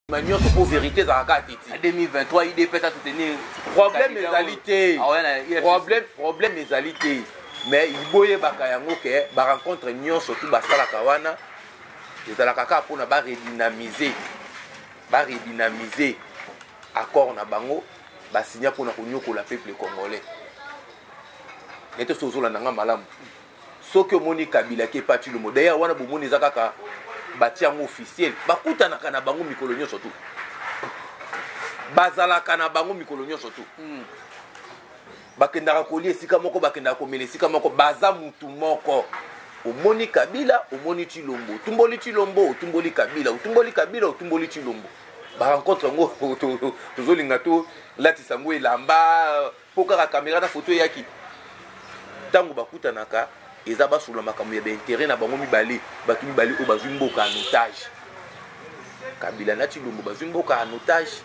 ma nyonso mpo verité ezalaka kaka teti 2023 idps a soutenir problème ezali te ah problème problème ezali te mais boyebaka yango ke barencontre nyonso tu basalaka wana ezalaka kaka mpona baredynamize baredynamize accord na bango basinya mpona konyokola peuple congolais nete soki ozolanda nga malamu soki omoni kabila ke pa tshilombo d'ailleurs wana bomoni eza kaka batia yango officiel bakutanaka na bango mikolo nyonso tu bazalaka na bango mikolo nyonso tu hmm. bakendaka kolia esika moko bakendaka komela esika moko baza mutu moko omoni kabila omoni tshilombo otumboli tshilombo otumboli kabila otumboli kabila otumboli tshilombo barencontre yango tozolinga tolatisa yango elamba mpo kaka kamera na foto eyaki ntango bakutanaka eza basolola makambo ya baintere na bango mibale bato mibale oyo bazwi mboka en otage kabila na tilombo bazwi mboka en otage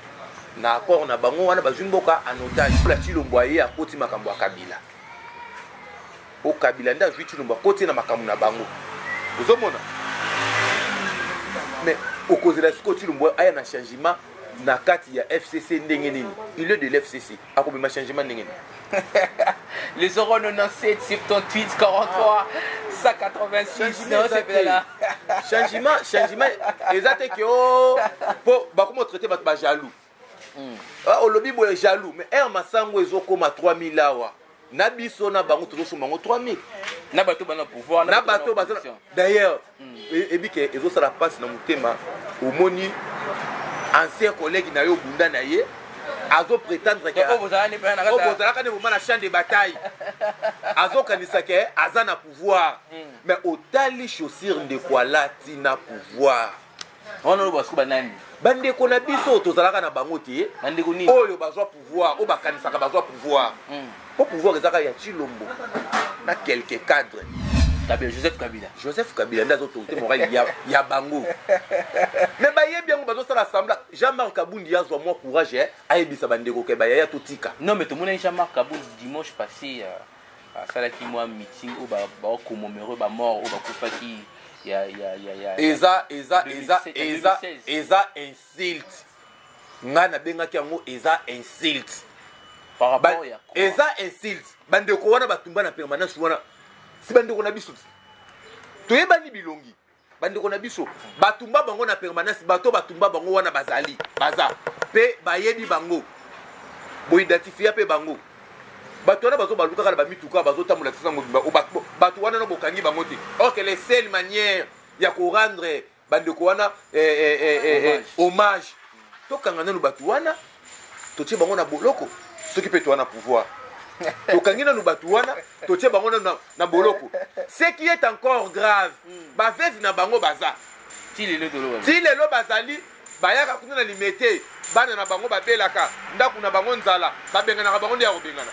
na accord na bango wana bazwi mboka en otage mpo na tilombo aye akoti makambo ya kabila o kabila nde azwi tilombo akoti na makambo na bango ozomona mais okozela sikoyo tilombo aya na changement na kati ya fcc ndenge nini il est de l'fcc akobima changement ndenge nini le 097 78 43 186 non c'est bien là changement changement eza te que oh po bakoma traiter bato ba jaloux hmm. ah, olobi boye jaloux mais aire masango ezokoma 3000 awa na biso na bango tozosomba yango 3000 na bato bana pouvoir na bato baza d'ailleurs hmm. e, ebike ezosala mpasi na motema omoni ancien collègue na yo obunda na ye azo prétendre ke obozalaka ne boma na champ de bataille azokanisa ke aza na pouvoir hmm. mais otali chaussure ndeko alati na pouvoir wana oloba siko banani bandeko na biso tozalaka na bango te bandeko nini oyo bazwa pouvoir oyo bakanisaka bazwa pouvoir hmm. mpo pouvoir ezaka ya chilombo na quelque cadre kabila joseph kabila joseph kabila nde azotonga te morale ya, ya bango me bayebi yango bazosala sembla jean marc kabundi ye azwa mwa courage eh, ayebisa bandeko ke bayaya totika non me tomonaki jean marc kabundi dimanche passé uh... asalaki mwa meeting oyo bakomomero ba mort oyo bakufaki ya, ya, ya, ya, eza eza eza eza eza insulte ngai nabengaki yango eza insulte eza insulte bandeko wana batumba na permanence wana si bandeko na biso toyebani bilongi bandeko na biso batumba bango na permanence bato batumba bango wana bazali baza mpe bayebi bango boidentifia mpe bango bato wana bazobaluka kaka na bamituka bazotambola kisa mobimba bato wana no bokangi bango te or que le seule manière ya korendre bandeko wana eh, eh, eh, hommage tokanga nanu bato wana totie bango na boloko soki mpe toa na pouvoir tokangi nanu bato wana totie bango nanu na, na boloko ce qui est encore grave hmm. baveve na bango baza ti lelo bazali bayaka kuna na limete bana na bango babelaka ndako na bango nzala babenganaka bango nde ya kobengana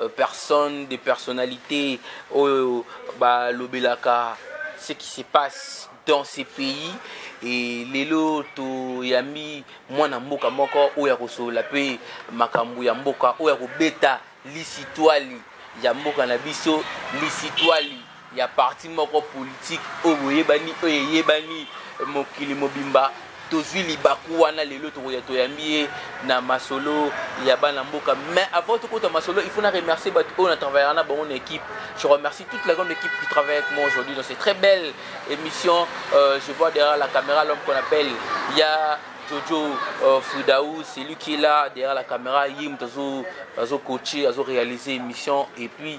euh, personne de personnalité oyo balobelaka ce qui se passe dans ce pays e lelo toyambi mwana mboka moko oyo akosolola mpe makambo ya mboka oyo akobeta lisitwali ya mboka na biso lisitwali ya parti moko politique oyo boyebani oyo eyebani mokili mobimba tozwi libaku wana lelo tokoya toyambi ye na masolo ya bana mboka mais avant tokota masolo il faut na remercier bato oyo na travaillera na bango na équipe je remercie toute la grande équipe qui travaille avec moi aujourd'hui dans cette très belle émission euh, je vois derrière la caméra l'homme qu'on appelle ya Jojo euh, Fridaou, c'est lui qui est là derrière la caméra. Yim, azo, azo coacher, azo réaliser émission. Et puis,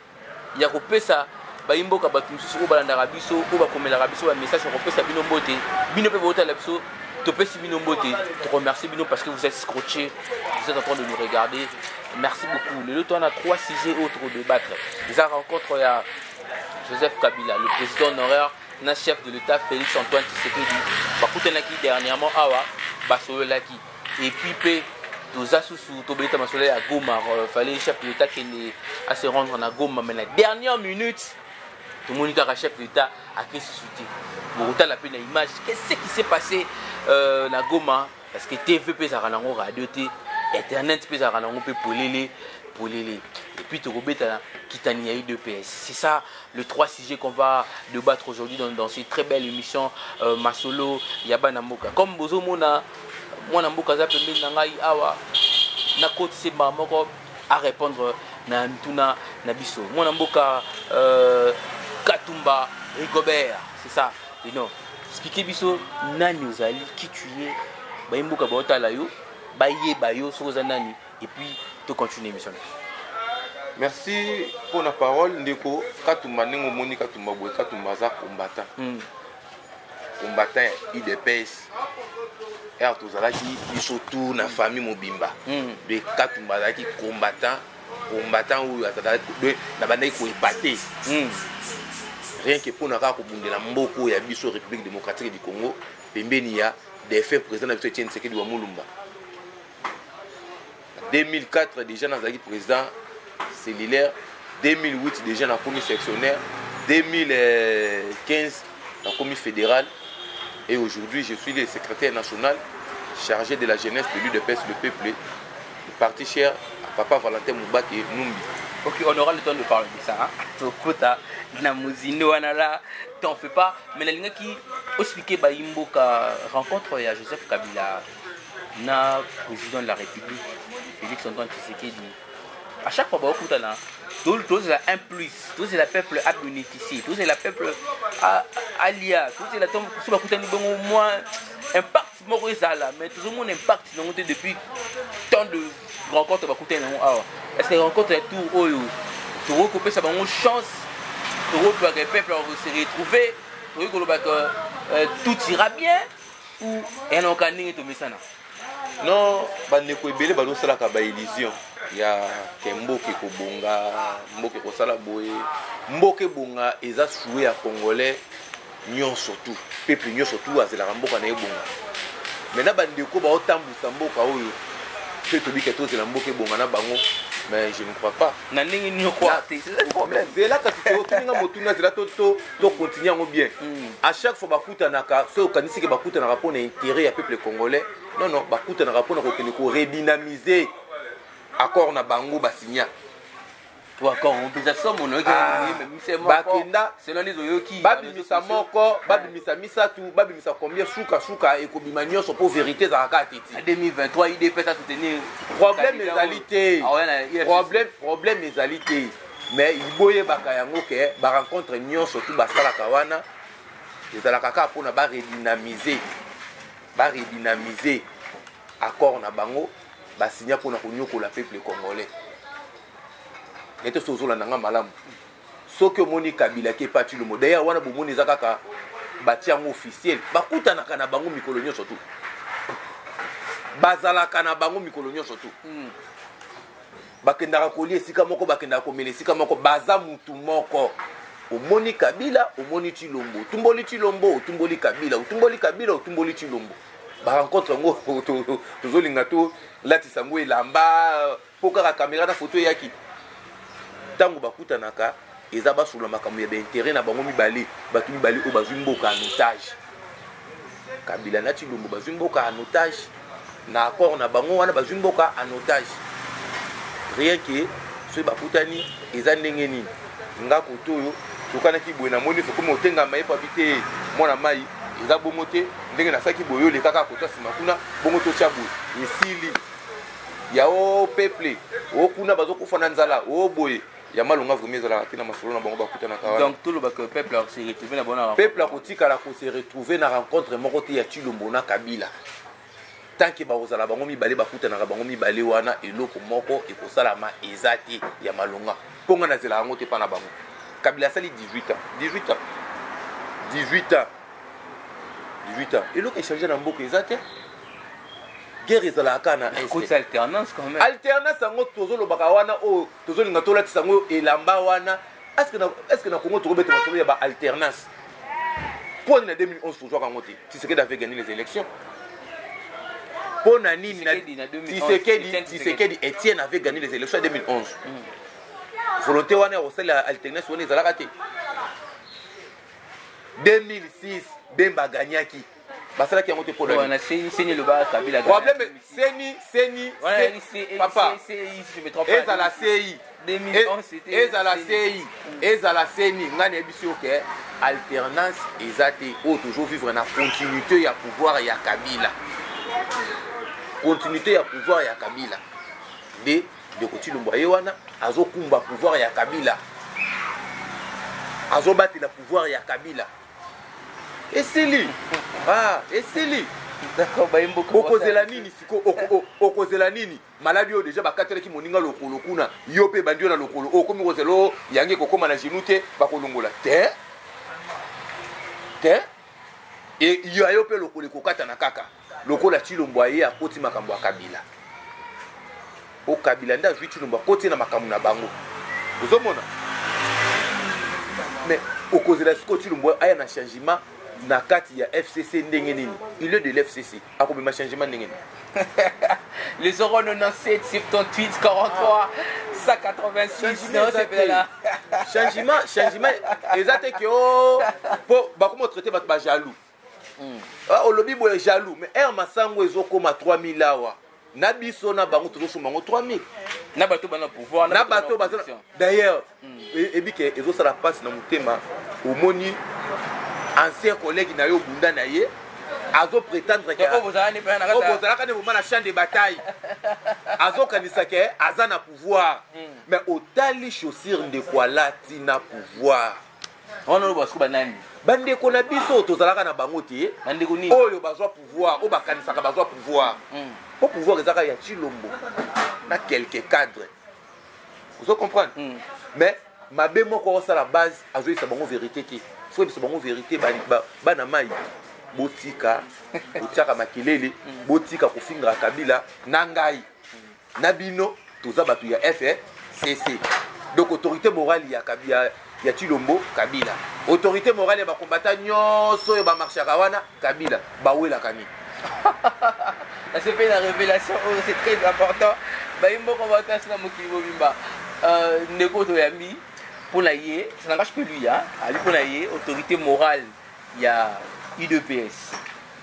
ya kopesa bayimboka bato mosusu oyo balandaka biso oyo bakomelaka biso bamessage ya kopesa bino mbote bino mpe botala biso topesi bino mbote toremercie bino parce que vous êtes scotché vous êtes en train de nous regarder merci beaucoup lelo to wana trois sujets oyo tokodebattre eza rencontre ya joseph kabila le président honoraire na chef de l'état félix antoine tshisekedi bakutanaki dernièrement awa basololaki et puis pe toza susu tobeta masolo ya goma euh, fallait chef de l'état kende à se rendre na goma mais na dernière minute tomoni kaka chef de l'état ake susu te bokotala mpe na image qu'est-ce qui s'est passé euh, na goma parce que tv mpe ezalaka nango radio te internet mpe ezalaka nango mpe polele polele et puis tokobetana kitani ya udps c'est ça le trois sujets qu'on va débattre aujourd'hui dans, dans cette très belle émission euh, masolo ya bana mboka comme bozomona mwana mboka aza pembeni na ngai awa nakotise mbala moko arépondre na mituna na biso mwana mboka euh, katumba rigobert c'est ça ino explike biso nani ozali qui tu es bayi mboka baotala yo bayeba yo soki oza nani et puis tocontinue émission na biso merci mpo na parole ndeko katumba ndenge omoni katumba boye katumba aza combattant mm. combattant udps r tozalaki biso tour na famille mobimba hmm. de katumba azalaki combattant combattant oyo azalaki nabandaki koepate hmm. rien que mpona kaka kobundela mboka oyo ya biso république démocratique du congo pembeni ya defunt président na biso etienne sekedi wa molumba 2004 deja nazalaki président cellulaire 2008 deja nakomi sectionnaire 2015 nakomi fédéral et aujourd'hui je suis le secrétaire national chargé de la jeunesse de l'udps le peuple parti cher à papa valentin moubake numbi ok on aura le temps de parler de ça hein? tokota na mozindo wana la t'en fais pas mais nalingaki ospike bayi mboka rencontre ya joseph kabila na président de la république félix antoine tshisekedi à chaque fois bakokutana tozela un plus tozela peuple a bénéficier tozela peuple alia tozela so bakutani bongo mwa impact moko ezala mais tozomona impact nango te depuis tant de rencontre bakutani nango awa est ce que rencontre ya tour oyo tokoki kopesa bango chance tokoki kolobaka peuple se retrouver tokoki kolobaka euh, tout ira bien enoka ndenge tomesana non bandeko ebele bazosalaka baillusion ya ke mboka ekobonga mboka ekosala boye mboka ebonga eza sue ya congolais nyonso tu peuple nyonso tu azelaka mboka na ebonga mai na bandeko baotambwisa mboka oyo mpe tobika tozela mboka ebonga na bango mais je ne crois pas na ndenge nini okwate zela kasi totinga motuna zela to to continue yango bien à chaque fois bakutanaka soki okanisi ke bakutanaka mpo na intérêt ya peuple congolais non non bakutanaka mpo na kokende koredynamiser accord na bango basinya bakenda babimisa moko babimisa misato babimisa combien sukasuka ekobima nyonso mpo verité ezalaka kaka tetiproblème ezali te problème ezali te mais boyebaka yango ke barencontre nyonso tu basalaka wana ezalaka kaka mpona baredynamize baredynamize accord na bango basinya mpona konyokola peuple congolais nete so ozolanda nga malamu soki omoni kabila ke pati lomo dayere wana bomoni eza kaka batia yango officiel bakutanaka na bango mikolo nyonso tu bazalaka na bango mikolo nyonso tu mm. bakendaka kolia esika moko bakendaka komela esika moko baza mutu moko omoni kabila omoni chilombo otumboli chilombo otumboli kabila otumboli kabila otumboli chilombo barencontre yango tozolinga tolatisa yango elamba mpo kaka kamera na foto eyaki ntango bakutanaka eza basolola makambo ya ba interet na bango mibale bato mibale oyo bazwi mboka en otage kabila na tshilombo bazwi mboka en otage na accord na bango wana bazwi mboka en otage rien ke soki bakutani eza ndenge nini nga kote oyo tokanaki boye na moni sokomi otengama ye papi te mwana mai eza bongo te ndenge nasalaki boye oyo lekaka kota nsima kuna bongo totya boye esili ya o oh, peuple o oh, kuna bazokufa na nzala o oh, boye ya malonga vraiment ezalaka te na masolo na bango bakutanaka wana donc toloba que peuple ako se retrouver na bango na peuple akotikala ko se retrouver na rencontre moko te ya Tshilombo na Kabila tant que bakozala bango mibale bakutanaka bango mibale wana eloko moko ekosalama eza te ya malonga mpo ngai nazela yango te mpa na bango kabila asali 18 ans 18 ans 18 ans 18 ans eloko echange na mboka eza te guerre ezalaka kaka na alternance yango tozolobaka wana oyo oh, tozolinga tolatisa yango elamba wana estce na congo tokobeta masolo ya baalternance mpo na 2011 tozwaka yango te tisekedi avait gagné les élections mpo na nini tisekedi etienne avait gagné les élections ya 2011 mm. volonté wana ya kosalela alternance wana ezalaka te 2006 bemba agagnaki basalaki yango te mpo wana seni seni elobaka kabila problème seni seni papa ezala sei ezala sei ezala seni ngai nayebisi yo ke alternance eza te oyo tozo vivre na continuité ya pouvoir ya kabila continuité ya pouvoir ya kabila nde ndeko tilombo ye wana azokumba pouvoir ya kabila azobatela pouvoir ya kabila esili ah, esili okozela nini siko okozela nini maladi oyo deja bakatelaki moninga lokolo kuna yo mpe bandi yo na lokolo okomi kozela o yangi ekokóma na genou te bakolongola te te e, ya yo mpe lokolo ekokatana kaka lokola tshilombo aye akoti makambo ya kabila po kabila nde azwi tshilombo akoti ye na makambo na bango ozomona mais okozela sikoyo tshilombo aya na changement na kati ya fcc ndenge nini il est de l'fcc akobima changement ndenge nini le 097 78 43 186 non c'est là changement changement eza te ke o po bakoma traite bato bajaloux Hmm. Ah, olobi boye jaloux mais air masango ezokoma 3000 awa na biso na bango tozosomba yango 3000 na bato bana pouvoir na bato baza d'ailleurs hmm. e, ebike ezosala mpasi na motema omoni ancien collègue na yo obunda na ye azo prétendre ke bozalaka ne moma na champ de bataille azokanisa ke aza na pouvoir hmm. mais otali chaussure ndeko alati na pouvoir wana oloba siko banani bandeko na biso tozalaka na bango te bandeko nini oyo bazwa pouvoir oyo bakanisaka bazwa pouvoir hmm. po pouvoir ezaka ya chilombo na quelque cadre ozo comprendre hmm. mais mabe moko akosala base azoyisa bango verité te soki biso bango verité bana mai botika botiaka makelele hmm. botika kofingaka kabila na ngai na bino toza bato ya fcc donc autorité morale ya, ya, ya chilombo kabila autorité morale ya bakombata nyonso oyo bamarchaka wana kabila bawelaka nini nasepeli na révélation oyo c'est très important bayi moko batasi na mokili mobimba euh, ndeko toyambi mpo na ye ça n'engage que lui hein? ali mpo na ye autorité morale ya udps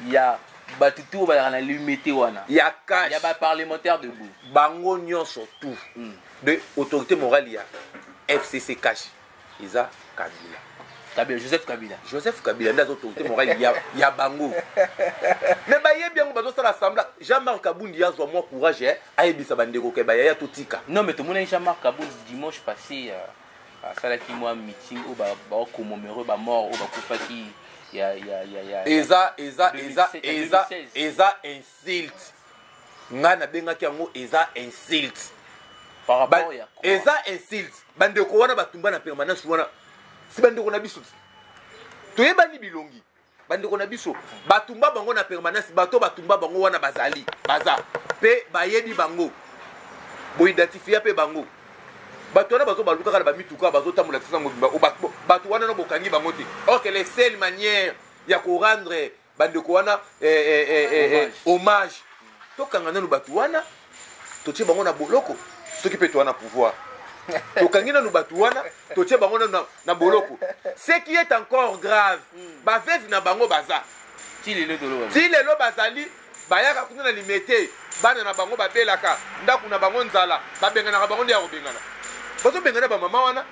ya bato tu oyo bazalaka na limete wana ya cash ya baparlementaire debout bango nyonso tu mm. de autorité morale ya fcc cash eza kabila kabila joseph kabila joseph kabila nde aza autorité morale ya, ya bango me bayebi yango bazosala sembla jean marc kabundi azwa mwa courage eh, ayebisa bandeko ke bayaya totika non me tomonaki jean marc kabundi dimanche passé uh... asalaki mwa meeting oyo bakomomero ba bamort oyo bakufaki ya, ya, ya, ya, eza eza eza eza eza insulte ngai nabengaki yango eza insulte ba, eza insulte bandeko wana batumba na permanence wana si bandeko na biso toyebani bilongi bandeko na biso batumba bango na permanence bato batumba bango wana bazali baza mpe bayebi bango boidentifia mpe bango bato wana bazo baluka kaka na bamituka bazotambola kisa mobimba bato wana no bokangi bango te or que le seule manière ya korendre bandeko wana eh, eh, eh, hommage tokanga nano bato wana totie bango na boloko soki mpe toa na pouvoir tokangi nanu bato wana totie bango nanu na, na boloko ce qui est encore grave hmm. baveve na bango baza ti lelo bazali bayaka kuna na limete bana na bango babelaka ndako na bango nzala babenganaka bango nde ya kobengana bazobengana bamama wana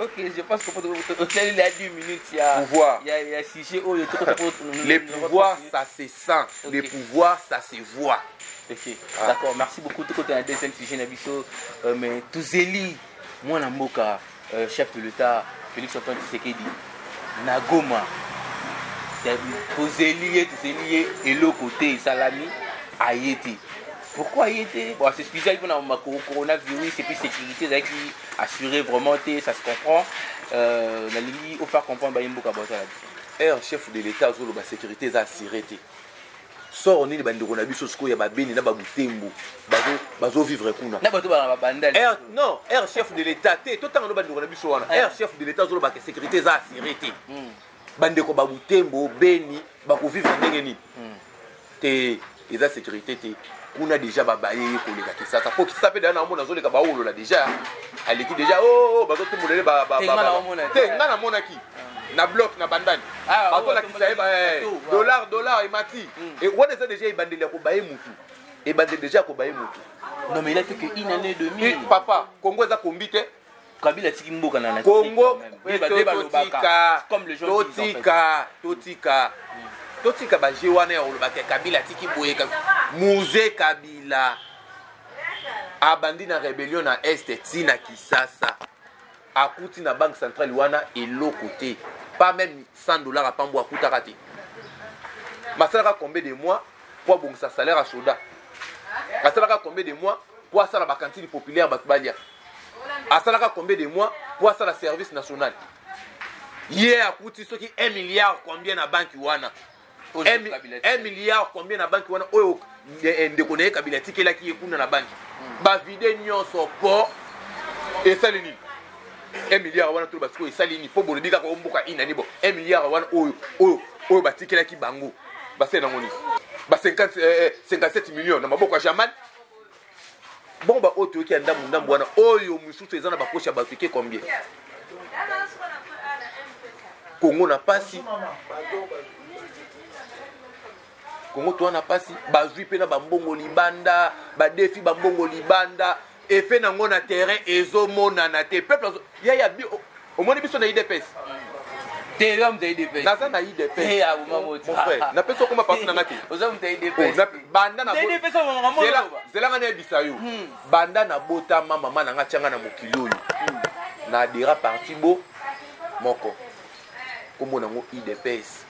pouvoir ça se sans okay. le pouvoir ça se voit okay. ah. d'accord merci beaucoup tokota na deuxième sujet na biso euh, mais tozeli mwana mboka euh, chef de l'état félix antoine tshisekedi na goma tozeli ye tozeli ye eloko te esalami aye te pourquoi aye te bon asexcuse ayi mpona coronavirus epuis sécurité ezalaki assuré vraiment te ça se comprend euh, nalingi ofaire comprendre baye mboka bozala biso heure chef de l'etat azoloba sécurité eza assure te soro nini bandeko na biso sikoyo ya babeni na babutembo bazovivre kuna non air chef de l'état te totanga no bandeko na biso wana air eh. chef de l'état azolobaka sécurité eza assure te hmm. bandeko babutembo beni bakovivre ndenge nini hmm. te eza securite te kuna deja babaye ye koleka kisasa po kisasa mpe deja naomona azoleka bawolola deja aleki deja o oh, oh, bazotumbola ye te nga namonaki na bloc na bandani ah, bazolakisa ye eh, dollar dollar emati hmm. wana eza deja ebandeli ya kobaye motu ebandeli deja ya kobaye motu non mais il a fait que une année demi papa congo eza kombi te kabila atiki mboka na kongo totika totika totika totika baje wana ya kolobaka kabila atiki boye muze kabila abandi na rebellion na este ti na kisasa akuti na banque centrale wana eloko te pas même 100 dollars apambo akutaka te basalaka combien de mois mpo abongisa salaire ya soda asalaka combien de mois mpo asala bakantine populaire bato balia asalaka combien de mois mpo asala service national ye akuti soki 1 milliard combien na banki wana 1 milliard combien na banki wana oyo eh, eh, ndeko na ye kabila atikelaki ye kuna na banki hmm. bavide nyonso mpo esali nini 1 milliard wana toloba sikoyo esali nini mpo bolobi kaka omboka inani bo 1 milliard wana oyo oyo oyo batikelaki bango basali nango nini ba 57 eh, million na maboko ya jamal bon ba oyo toyoki ya ndambu ndambu wana oyo mosusu eza na bapoche ya bato eke combien kongo na pasi kongo toa na pasi bazwi mpe na bambongo libanda badefi bambongo libanda efe nango na terrain ezomonana te peuple ya ya omoni biso na idps Ethereum de IDPS. Naza na IDPS. Eh ya uma moti. Mon frère, na pesa koma parti na ngaki. Oza mta IDPS. Na banda na bota. IDPS wa ngamo. Zela zela ngane bisa yo. Hmm. Banda na bota mama mama na ngachanga na mokili oyo. Hmm. Na adira parti bo moko. Kombo nango IDPS.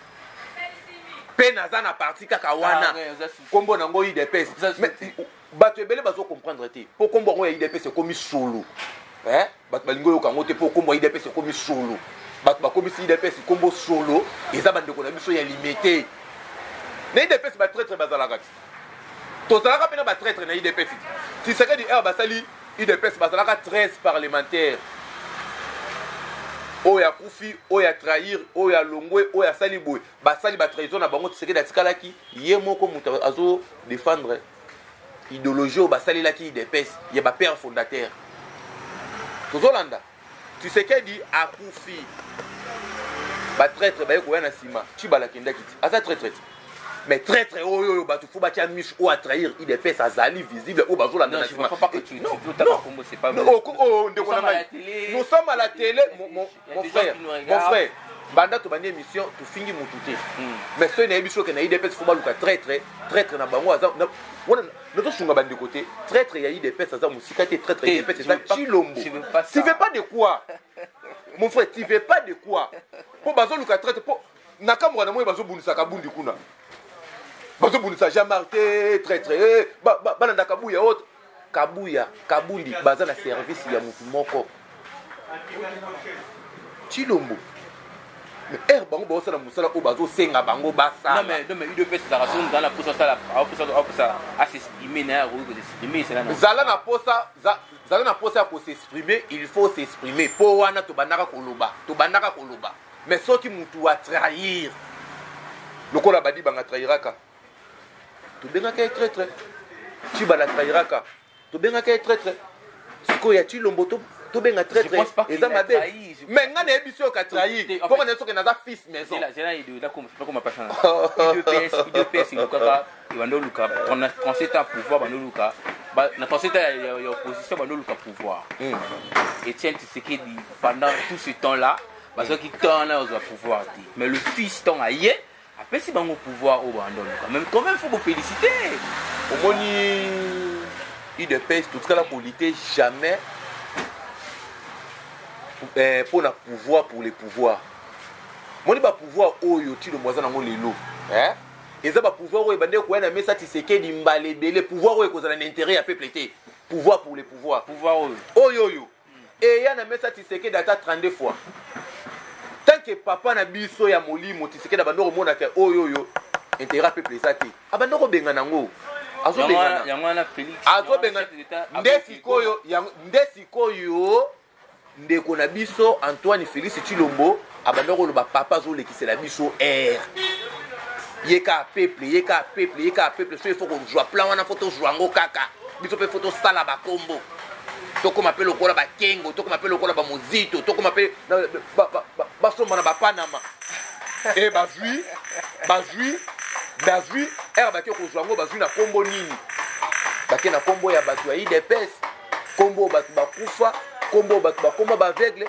Pe naza na parti kaka wana. Ah, Kombo nango IDPS. Bato ebele bazo comprendre te. Po kombo yango ya IDPS ekomi solo. Eh? bato balingi oyoka yango te mpo nkombo ya idps ekomi solo bato bakomisi idps nkombo solo eza bandeko na biso ya limete na idps batraitre bazalaka ti tozalaka mpe na batraitre na idps ti tisekedi heure basali idps bazalaka 13 parlementaire oyo akufi oyo atrahir oyo alongwe oyo asali boye basali batrahison na bango tisekedi atikalaki ye moko moto azodefendre idologie oyo basalelaki idps ya bapère fondateur tozolanda tisekedi akufi batraitre baye koya na nsima cibala akendaki ti aza traitre ti mais traitre oyo oyo bato fo batya miche oyo atrahir idps azali visible oyo bazolanda na nsima ndeko na ngai nosamba la tele mon frère mon frère banda tobandi émission tofingi mutu te hmm. mais soki nayebi biso okende idps fo baluka traitre traitre na bango aza wana nazosunga bandeko te traitre ya idps aza mosika te traitre ya idps eza cilombo tu veux pas de quoi mon frère tu veux pas de quoi mpo bazoluka traitre mpo nakamboka na moi bazobundisaka bundi kuna bazobundisa jean marc te traitre eh, balandaka buya ote kabuya kabundi baza na service ya mutu moko chilombo ere eh, bango baosala mosala oyo bazosenga bango basalazala na posa zala na posa ya kosexprime il faut s'exprime mpo wana tobandaka koloba tobandaka koloba mais soki motu atrahir lokola badi banga trahiraka tobengaka ye traitre ciba na trahiraka tobengaka ye traitre sikoyo ya cilombo tobenga traitre eza mabe mais ngai nayebi soki oka trahir mpo ngai soki naza fils maison banda oluka 37 ans pouvoir banda oluka na 37 ans ya opposition banda oluka pouvoir hmm. etienne tisekedi pendant tout ce temps là bazwaki temps na ozwa pouvoir te mais le fils ntango aye apesi bango pouvoir oyo banda oluka mais quand même faut bo féliciter omoni udps totikala kolite jamais eh, mpo na pouvoir pour le pouvoir moni bapouvoir oyo tilombo aza nango lelo eh? eza bapouvoir oyo ebandeki koya na mesa tisekedi mbala ebele pouvoir oyo ekozala na intérêt ya peuple te pouvoir pour le pouvoir pouvoir oyo oyo oyo eya na mesa tisekedi ata 32 fois tanke papa na biso ya molimo tisekedi abandi komona ke oyo oyo intérêt ya peuple eza te abandi kobengana yango azobengana nde sikoyo nde sikoyo ndeko na biso antoine félix chilombo abanda koloba papa azolekisela biso air ye kaka peuple ye kaka peuple ye kaka peuple so ifo kozwa plan wana fo tozwa yango kaka biso mpe fo tosala bakombo tokóma mpe lokola bakengo tokóma mpe lokola bamozito tokóma mpe basomba na bapanama e eh, bazwi bazwi bazwi ere bake kozwa yango bazwi na nkombo nini bake na nkombo ya bato ya idps nkombo bato bakufa nkombo bato bakoma baaveugle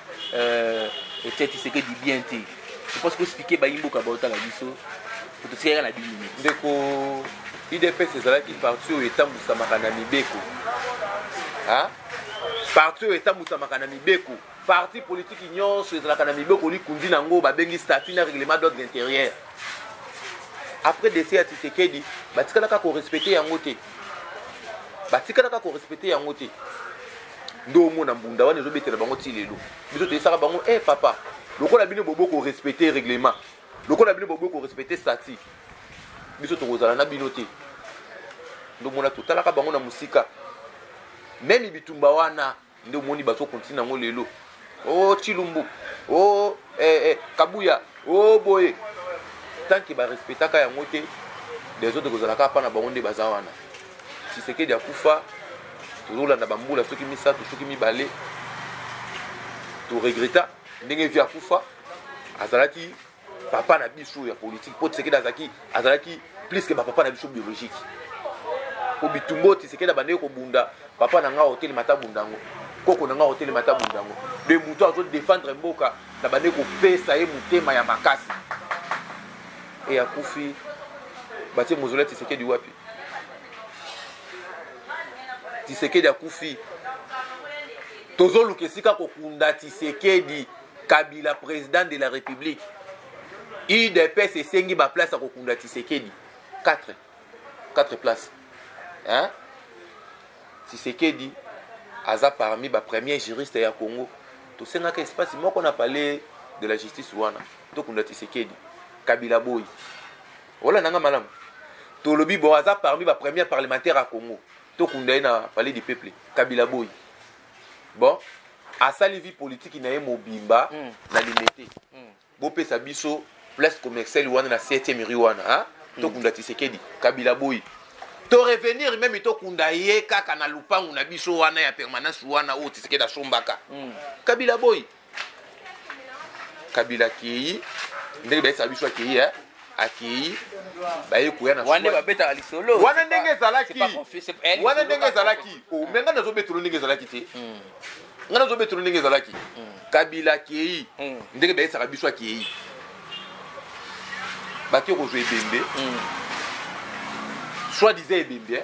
Euh, Etienne Tshisekedi bien te. Je pense que expliquer ba imboka ba otala biso. Totikaka na bini. Ndeko UDPS ezalaki parti oyo etambusamaka na mibeko. Hein? Parti oyo etambusamaka na mibeko. Parti politique nyonso ezalaka na mibeko likundi na yango babengi statut na règlement d'ordre intérieur. Après décès ya Tshisekedi, batikalaka ko respecter yango te. Batikalaka ko respecter yango te. nde omona mbunda wana ezobetela bango ti lelo biso toyesaka bango e eh, hey, papa lokola bino bobo korespecte règlement lokola bino bobo korespecte stati biso tokozala na bino te nde omona totalaka bango na mosika meme bitumba wana nde omoni bazokontina yango lelo oh chilumbu oh eh, eh, kabuya oh boye tant que barespectaka yango te des autres kozalaka apa na bango nde baza wana tshisekedi akufa tozolanda bambula soki misato soki mibale toregreta ndenge vi akufa azalaki papa na biso ya politique mpo tisekedi azalaki azalaki plus ke bapapa na biso biologique mpo bitumbo tisekedi abandeki kobunda papa na ngai otelema ata bunda yango koko na ngai otelema ata bunda yango de moto azodefendre mboka na bandeki kopesa ye motema ya makasi e akufi batie mozole ya tisekedi wapi tisekedi akufi tozoluka esika kokunda tisekedi kabila president de la république udps esengi baplace ya kokunda tisekedi 4 4 place hein? tisekedi aza parmi bapremier juriste ya congo tosengaka espace moko na palais de la justice wana tokunda tisekedi kabila boyi olanda nga malamu tolobi bon aza parmi bapremier parlementaire ya congo tokunda ye na palais du peuple kabila boyi bon asali vie politique na ye mobimba mm. na limete mm. bopesa biso place commerciale wana na 7e rue wana hein? mm. tokunda tisekedi kabila boyi to revenir meme tokunda ye kaka na lupangu na biso wana ya permanence wana oyo tisekedi asombaka mm. kabila boyi kabila akei ndenge bayesa biso akei eh? akei baye koya na wana babetaka lisolo wana ndenge ezalaki eh, wana ndenge ezalaki oh, me ngai nazobetolo ndenge ezalaki te hmm. ngai nazobetolo ndenge ezalaki hmm. kabila akei hmm. ndenge bayesaka biso akei bato ekozwa ebembe soit disant ebembe eh?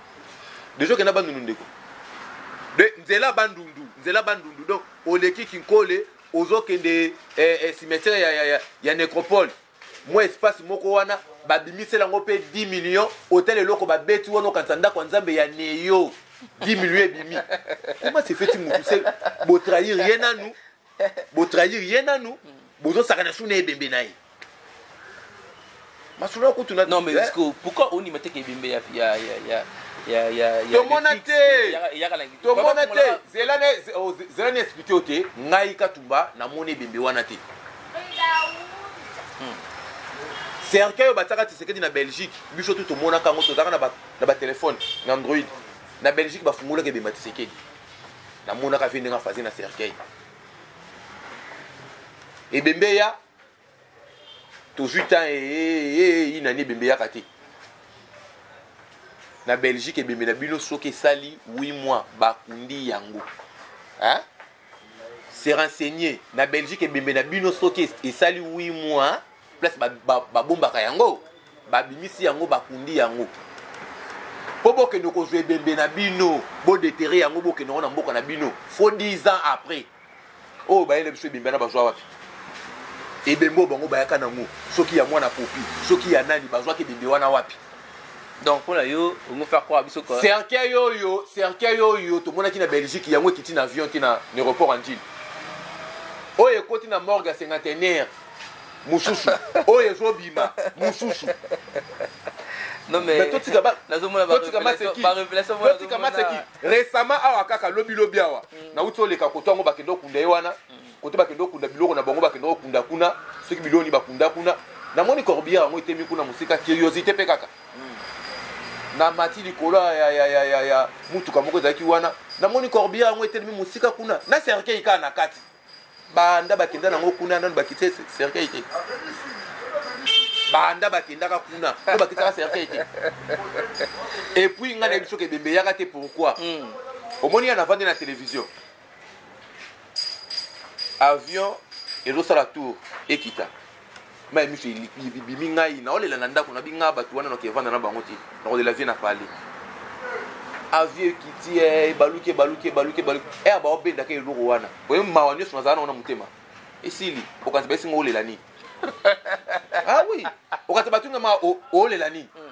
deja okenda bandundu ndeko de nzela bandundu nzela bandundu donc oleki kinkole ozokende eh, eh, cimetière ya, ya, ya, ya necropole mwa espace moko wana babimisela yango mpe 10 million otal eloko babeti wana okanisa ndako ya nzambe ya neyo 10 million ebimi koma sefeti motu se botrahir ye nanu bo trahir ye nanu bozo saka na suna ebembe na ye masolo ya kutu na non mais eh? pourquoi on imate ke ebembe ya ya ya ya ya tomona te tomona te zela na oh, zela na explique yo te ngai katumba namoni ebembe wana te hmm. cercueil oyo batiaka tisekedi na belgique biso tu tomonaka yango tozalaka na batelefone na android na belgique bafungolaka ebemba tisekedi namonaka vie ndenge afaze na cercueil ebembe eya tozwi temps ee eh, eh, eh, nani ebembe eyaka te na belgique ebembe na bino soki esali 8 mois bakundi yango hein? se renseigner na belgique ebembe na bino soki esali 8 mois place babombaka yango babimisi yango bakundi yango mpo bokende kozwa ebembe na bino bodetere yango bokende yango na mboka na bino fo 10 ans après oyo oh, bayele biso ebembe na bazwa wapi ebembe oyo bango bayaka nango soki ya mwana popi soki ya nani bazwaki ebembe wana wapi donc mpo na yo ongo faire croire biso cercueil oyo cercueil oyo tomonaki na belgique yango ekiti na avion te na aéroport ya njili oyo ekoti na morgue ya cinquantenaire mususu oyo ezo bima mususu non mais totika ba nazomona ba totika maseki ba révélation mona totika maseki récemment awa kaka lobi lobi awa mm. na uti oleka koto yango bakende okunda ye wana mm. kote bakende okunda biloko na bango bakende okunda kuna soki biloko ni bakunda kuna namoni corbière yango etemi kuna mosika curiosité mpe kaka mm. na mati likolo ya, ya, ya, ya, ya mutuka moko ezalaki wana namoni corbière yango etelemi mosika kuna na cercueil kaka na kati banda bakenda nango kuna nano bakite cercueil te banda bakendaka kuna no bakitaka cercueil te epuis ngai nayebi soki ebembe eyaka te pourquoi hmm. omoni ya navandi na télévision avion ezosala tour ekita mai miso ebimi ngai naolela na ndako nabi ngai bato wana noki evanda na bango te nakolela vie na pale avie ekiti eh, ebaluki ebaluki ebaluki ebaluki e eh, baobendaka eloko wana oye mawa nyonso nazala nango na motema esili okanisa baesi ngo olela nini ah oui okanisa batunga ma olela nini hmm.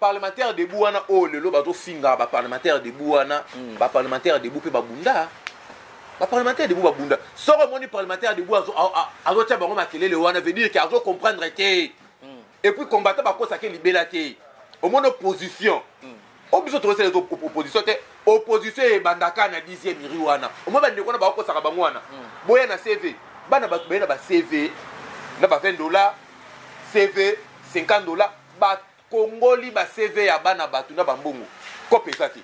parlementaire debout wana oyo lelo bazofinga baparlementaire debout wana mm. baparlementaire debout mpe babunda baparlementaire debout babunda soko omoni parlementaire debout azotya bango makelele wana veut dire ke azocomprendre te mm. epuis combattant bakosake libela te omoni opposition mm. o biso tozosala ezo opposition te opposition ebandaka na 10e iri wana omoni bandeko wana bakokosaka bango wana mm. boya na cv bana bato baye na bacv na ba 20 dollar cv 50 dollar Kongoli ba CV ya bana batu na ba mbongo. Cop eza te.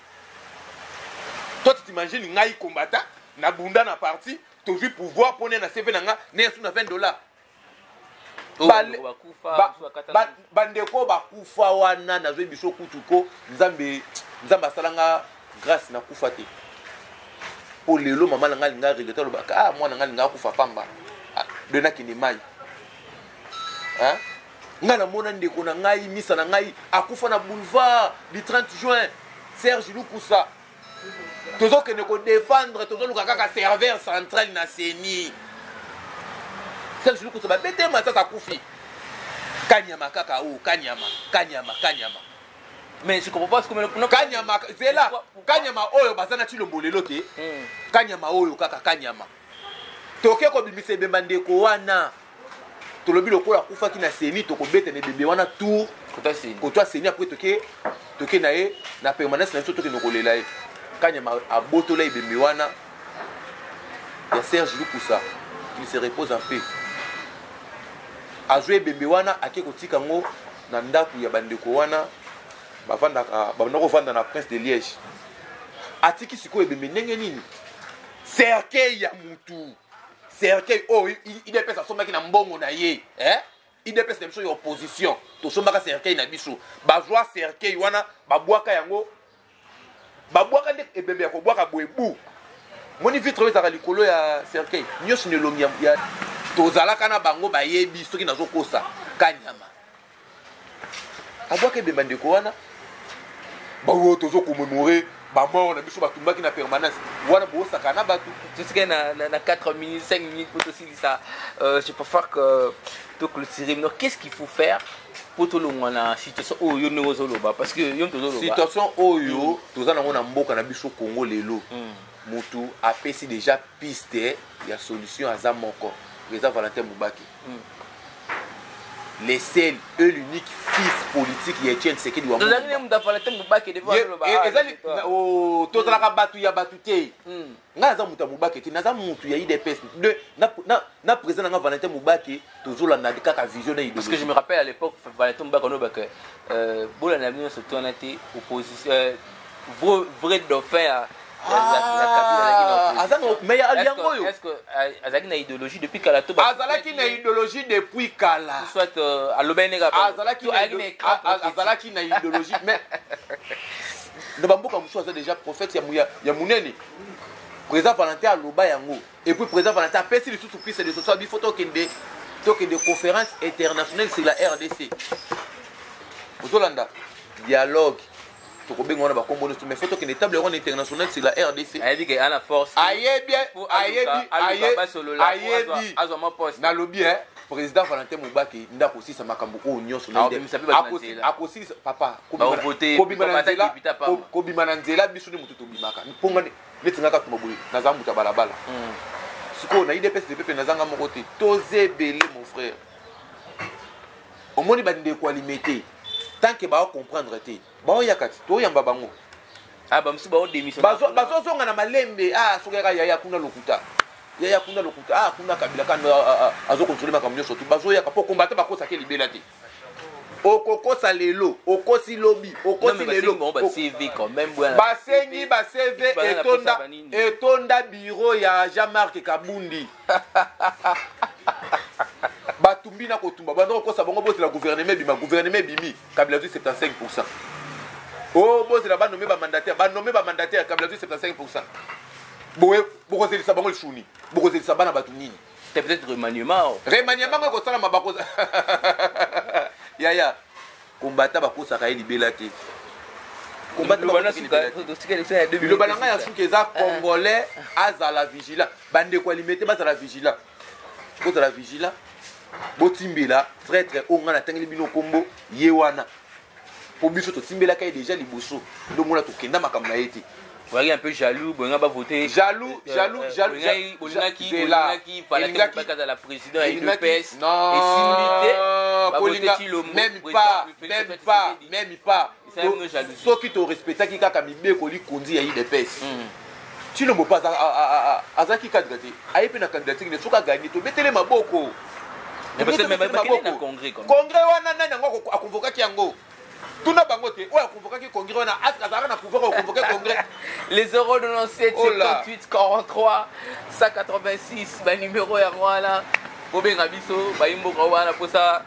Toi tu t'imagines ngai combattant na bunda na parti tozwi pouvoir pone na CV na nga ne yasu na 20 dollars. bandeko bakufa wana nazwi biso kutu ko nzambe nzambe asala nga grâce nakufa te mpo lelo mama na ngai alinga regrete alobaka ah mwana ngai alinga akufa pamba ah, de nakende mai ngai namona ndeko na ngai misa na ngai akufa na boulevard du 30 juin serge lukusa tozokende kodefendre tozoluka kaka serveur central na ceni serge lukusa babete masasi akufi kanyama kaka o oh, kanyama kanyama kanyama mais je comprends pas comme non kanyama zela kanyama oyo baza na chilombo lelo te hmm. kanyama oyo kaka kanyama toke kobimisa ebemba ndeko wana tolobi lokola akufaki na seni tokobeta na ebembe wana tour kotwa seni apres toke toke na ye na permanence na biso tokende kolela ye kanyama abotola ebembe wana ya serge lukusa il se repose en paix azwi ebembe wana ake kotika yango na ndako ya bandeko wana bavandaka banda kovanda na prince de liège atiki sikoyo ebembe ndenge nini cercueil ya mutu cercueil oyo oh, idps asombaki na mbongo na ye eh? idps na biso ya opposition tosombaka cercueil na biso bazwa cercueil wana babwaka yango babwaka nde ebembe ya kobwaka boye bu moni vitre oyo ezalaka likolo ya cercueil nyonso na elongi ya tozalaka na bango bayebi soki nazokosa kanyama abwaka ebemba ndeko wana baoyo tozo commémore bamort na biso batumbaki na permanence wana bosaka na bato tosika na, na, na 4 minutes 5 minutes mpo tosilisa euh, je préfère que toclotire donc qu'est ce qu'il faut faire mpo tolongwa na situation oyo yo ndenge ozoloba parce que yo tozoloba situation oyo mm. toza nango na mboka na biso congo lelo mm. motu apesi déjà piste ya solution aza moko eza valentin mubaki le seul et l'unique fils politique ya Etienne Tshisekedi wa Tozali ne mutu afala te mubake de ba loba. Eh, ezali oh tozalaka mm. batu ya batu te. Mm. Nga naza mutu ya mubake te, naza mutu ya IDPS. De na na na président nga Valentin Mubake tozola na kaka vision na idée. Parce que je me rappelle à l'époque Valentin Mubake no baka euh bola na bino surtout na te opposition euh, vrai dauphin azalaki na idéologie depuis kala to azalaki na idéologie depuis kala soit euh, alobaki ndenge azalaki na idéologie mais na bamboka mosusu aza déjà prophète ya monene président valentin aloba yango et puis président valentin apesi lisusu piste de soso bifo tokende tokende conférence internationale sur la rdc ozolanda dialogue tokobenga wana bakombo nyonso mais faut tokende table wana international sur la rdc ayebi ke ana force ayebi ayebi nalobi e président valentin mobaki nde akosisa makambo oyo nyonso akosilisa papa kobima na nzela biso nde motu tobimaka mponga neti nga katuma boye naza moto ya balabala hmm. sikoyo na idps depepe nazanga moko te toza ebele mon frère omoni bandeko ya limete tant que bao comprendre te baoyaka ti toyamba bango ah, bazozonga na malembe ah, soki yaka yaya kuna lokuta yaya kuna lokuta ah, kuna kabila kanda azokontrole makambo nyonso tu bazoyaka mpo kombata bakosaki libela te okokosa lelo okosi lobi okosi lelo basengi bacv etonda etonda biro ya jean marc kabundi batumbi na kotumba banda kokosa bango bozela guvernema ebima guvernema ebimi kabila zwi 75 pourcent o oh, bozela banome bamandataire banome bamandataire kabila zwi 75 pourcent boye bokozelisa bango lisuni bokozelisa bana bato nini c'est peut-être remaniement remaniement ngo ekosalama bako yaya kombata bakosaka ye libela te biloba na ngai ya suki eza congolais azala vigilant bandeko ya limete bazala vigila bozala vigila botimbela traitre oyo ngai natangeli bino nkombo ye wana mpo biso totimbelaka ye deja liboso ndongo na tokenda makambo na ye te boyaki un peu jaloux bolinga bavote jaloux euh, jaloux euh, jaloux bolingaki bolingaki palaki azala président ya udps esimbi te bavote tilombo même pas même pas même pas soki torespectaki kaka mibeko likonzi ya idps cilombo mpe azalaki kadre te aye mpe na candidature ne soki aganye tobetele maboko congrès wana nani yango akonvokaki yango tuna bango te oyo akonvokaki congrès wana aske azalaka na pouvoir okonvoke congrès les 097 58 43 186 banimero yango wana bobenga biso bayimboka wana mposa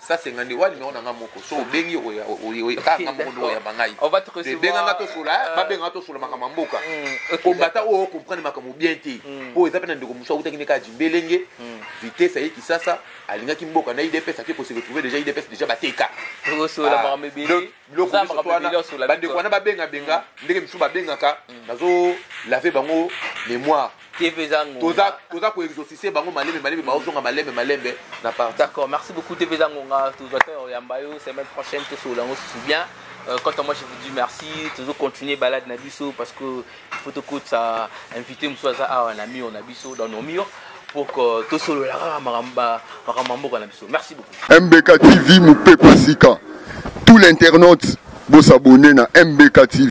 Ça c'est ngande wa numéro nanga moko so obengi oya oya ka nga moko ndo ya bangai on va te recevoir benga nga to sola eh, ba benga to sola makama mboka mm, combattant o comprendre makamo bien te mm. po eza pena ndeko musa utaki ne ka jimbelenge mm. vitesse ayi kisasa alingaki mboka na IDPS ake ko se retrouver déjà IDPS déjà bateka to sola ah. makamo bien biloko miso wana bandeko wana babengabenga mm. ndenge misusu babengaka mm. nazo lave bango mémoire toza toza koexaucise bango malembe malembe baozonga malembe malembe na part d'accord merci beaucoup tv eza ngonga tozwa te oyamba yo semaine prochaine tosolola yango susu bien Euh, quant à moi, je vous dis merci. Toujours continuer balade Nabiso parce que faut tokotisa invité mosusu aza awa na mur na biso dans nos murs pour que tosolola kaka makambo ya mboka na biso merci beaucoup mbk tv mopepa sika tout l'internaute bosabone na mbk tv